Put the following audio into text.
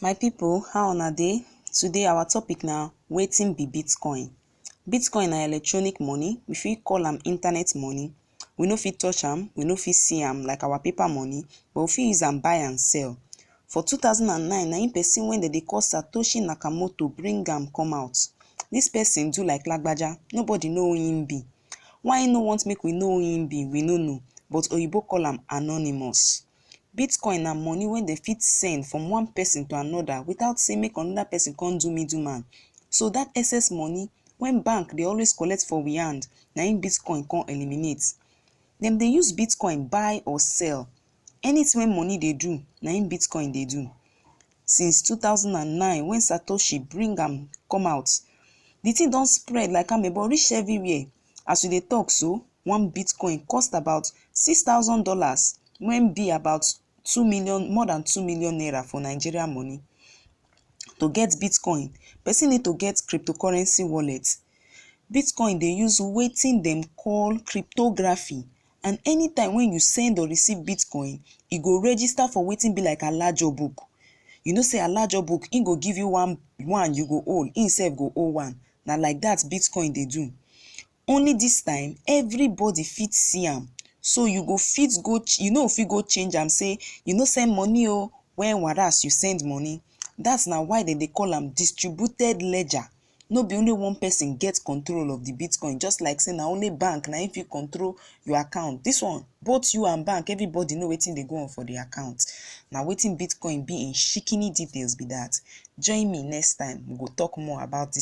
My pipu how una dey? Today our topic na wetin be Bitcoin? Bitcoin na electronic money, we fit call am internet money, we no fit touch am, we no fit see am like our paper money but we fit use am buy and sell. For two thousand and nine na im person wey dem dey call Satoshi Nakamoto bring am come out, dis person do like lagbaja nobody know who im be, why im no want make we know who im be we no know but oyibo call am anonymous. Bitcoin na money wey dem fit send from one person to another without sey make another person come do middle man. So that excess money wey bank dey always collect for we hand, na im Bitcoin come eliminate. Dem dey use Bitcoin buy or sell. Anything wey money dey do, na im Bitcoin dey do. Since two thousand and nine when Satoshi bring am come out, the thing don spread like amebo reach everywhere. As we dey talk so, one Bitcoin cost about six thousand dollars wen be about two million more than two million naira for Nigeria money. To get Bitcoin, person need to get cryptocurrency wallet. Bitcoin dey use wetin dem call cryptography and anytime wen you send or receive Bitcoin, e go register for wetin be like alajo book. You know sey alajo book, im go give you one one you go hold, im sef go hold one. Na like that Bitcoin dey do. Only this time, everybody fit see am. So you go fit go, you no fit go change am say you no send money o, when whereas you send money. That na why dem dey call am distributed ledger. No be only one person get control of the Bitcoin just like say na only bank na im fit control your account. This one, both you and bank, everybody know wetin dey go on for the account. Na wetin Bitcoin be in shikini details be that. Join me next time, we go talk more about this.